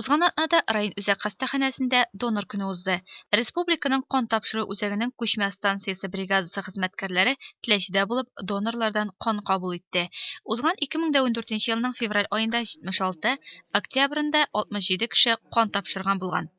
Узган атнада район үзәк хастаханәсендә Донор көне узды. Республиканың кан тапшыру үзәгенең күчмә станциясе бригадасы хезмәткәрләре Теләчедә булып донорлардан кан кабул итте. Узган 2014 елның февраль аенда 76, октябрендә 67 кеше кан тапшырган булган.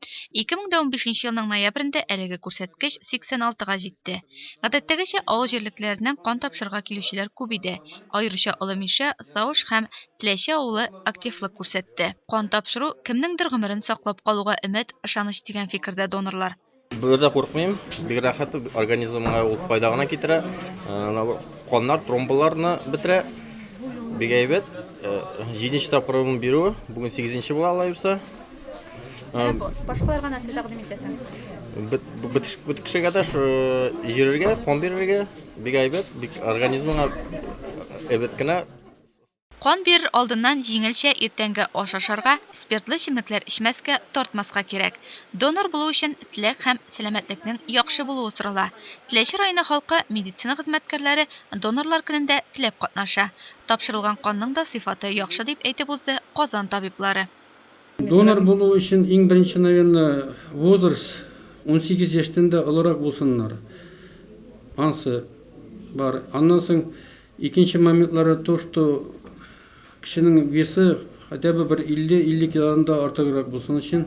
2015 елның ноябрендә әлеге күрсәткеч 86 га җитте. Гадәттәгечә, авыл җирлекләреннән кан тапшырырга килүчеләр күп иде, аеруча Олы Мишә, Сауш һәм Теләче авылы активлык күрсәтте. Кан тапшыру, кемнеңдер гомерен саклап калуга өмет, ышаныч дигән фикердә донорлар. Бу йөрдә курыкмыйм, бик рәхәт, организмга ул файда гына китерә. Каннар, тромбаларны бетерә. Бик әйбәт. Җиденче тапкырым бирү, бүген сигезенче була ала йөрсә. Башкаларга нәрсә тәкъдим итәсең? Бөтен кешегә дә йөрергә, кан бирергә, бик әйбәт, бик организмга әйбәт кенә. Кан бирер алдыннан җиңелчә иртәнге аш ашарга, спиртлы эчемлекләр эчмәскә, тартмаска кирәк. Донор булу өчен теләк һәм сәламәтлекнең яхшы булуы сорала. Теләче районы халкы медицина хезмәткәрләре Донорлар көнендә теләп катнаша. Тапшырылган канның да сыйфаты яхшы, дип әйтеп узды Казан табиблары. Донор булу өчен иң беренче, наверное, возраст унсигез яшьтән дә олырак булсыннар. Ансы бар. Аннан соң Икенче моментлары то, что кешенең весы хотя бы бер 50-50 килодан да артыграк булсын өчен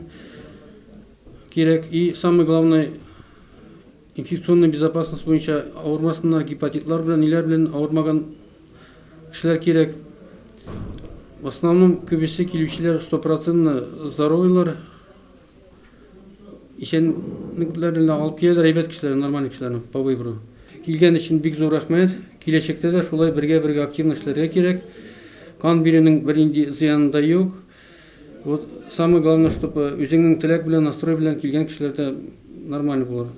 кирәк. И самый главный инфекционный безопасность буенча авырмасыннар гепатитлар белән, ниләр белән авырмаган кешеләр кирәк. В основном күбесе килүчеләр стопроцентно здоровыйлар. Исәнлекләрен алып киләләр, әйбәт кешеләр, нормаль кешеләр, по выбору. Килгән өчен бик зур рәхмәт. Киләчәктә дә шулай бергә-бергә активно эшләргә кирәк. Кан бирүнең бернинди зыяны да юк. Вот самое главное, чтобы үзеңнең теләк белән, настрой белән килгән кешеләр дә нормаль булыр.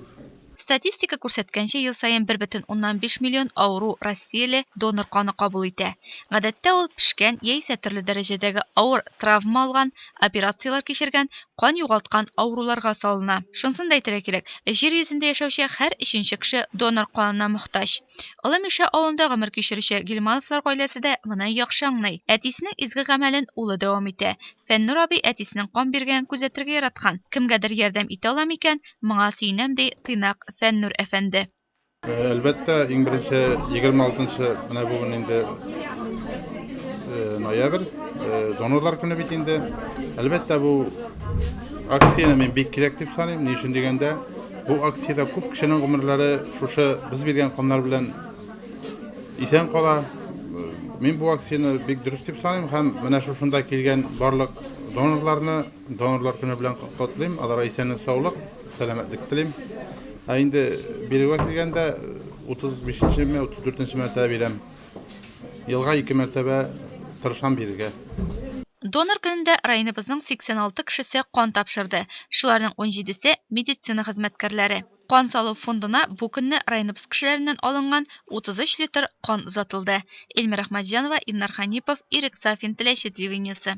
Статистика күрсәткәнчә, ел саен бер бөтен уннан биш миллион авыру россияле донор каны кабул итә. Гадәттә ул, пешкән, яисә төрле дәрәҗәдәге авыр травма алган, операцияләр кичергән, кан югалткан авыруларга салына. Шунысын да әйтергә кирәк, Җир йөзендә яшәүче һәр өченче кеше донор канына мохтаҗ. Олы Мишә авылында гомер кичерүче Гилмановлар гаиләсе дә моны яхшы аңлый. Әтисенең изге гамәлен улы дәвам итә, Фәннүр абый әтисенең кан биргәнен күзәтергә яраткан. Кемгәдер ярдәм итә алам икән, моңа сөенәм, ди тыйнак Фәннүр әфәнде. Әлбәттә, иң беренче, егерме алтынчы, менә бүген инде ноябрь, донорлар көне бит инде. Әлбәттә, бу акцияне мин бик кирәк дип саныйм. Ни өчен дигәндә, бу акциядә күп кешенең гомерләре шушы без биргән каннар белән Исән кала. Мин бу акцияне бик дөрес дип саныйм һәм менә шушында килгән барлык донорларны донорлар көне белән котлыйм. Аларга исәнлек, саулык, сәламәтлек телим. Ә инде бирүгә килгәндә 35-нче ме, 34-нче мәртәбә бирәм. Елга ике мәртәбә тырышам бирергә. Донор көнендә районыбызның 86 кешесе кан тапшырды, шуларның унҗидесе, медицина хезмәткәрләре. Кан салу фондына бу көнне районыбыз кешеләреннән алынган 33 литр кан озатылды. Эльмира Әхмәтҗанова, Илнар Хәнипов, Ирек Сафин, Теләче телевидениесе.